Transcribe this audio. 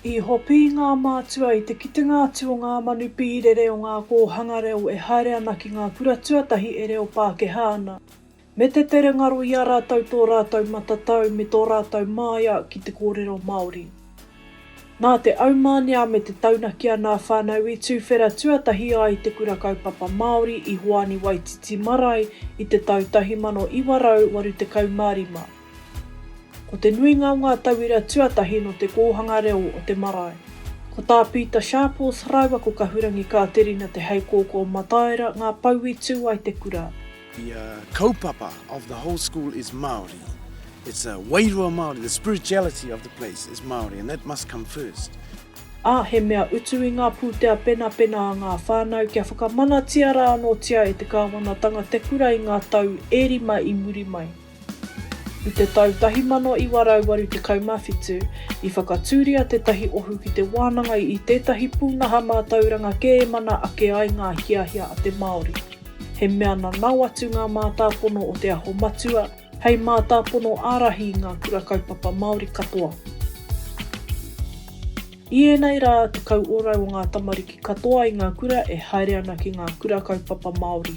I hopi ngā mātua i te kitenga atu o ngā manu pīrere o ngā kōhanga reo e haere ana ki ngā kura tuatahi e reo Pākehā ana, me te tere ngaro i a rātou tō rātou matatau me tō rātou māia ki te kōrero Māori. Nā te aumānia me te taunaki a nā whānau i tūwhera tuatahi ai te Kura Kaupapa Māori i Hoani Waititi Marae i te tau 1985. Ko te nuinga o ngā tauira tuatahi nō te kōhanga reo o te marae. Ko tā Pita Sharples rāua ko Kahurangi Kāterina Te Heikōkō o Mataira ngā pou i tū ai te kura. The kaupapa of the whole school is Māori. It's a wairua Māori, the spirituality of the place is Māori and that must come first. Ā, he mea utu i ngā pūtea penapena a ngā whānau kia whakamanatia rā anōtia e te kāwanatanga te kura i ngā tau e rima i muri mai. I te tau 1987, i whakatūria tētahi ohu ki te wānanga i tētahi pūnaha mātauranga kē e mana ake ai ngā hiahia a te Māori. He mea nanao atu ngā mātāpono o Te Aho Matua hei mātāpono ārahi i ngā kura kaupapa Māori katoa. I ēnei rā, tekau ōrau o ngā tamariki katoa i ngā kura e haere ana ki ngā kura kaupapa Māori.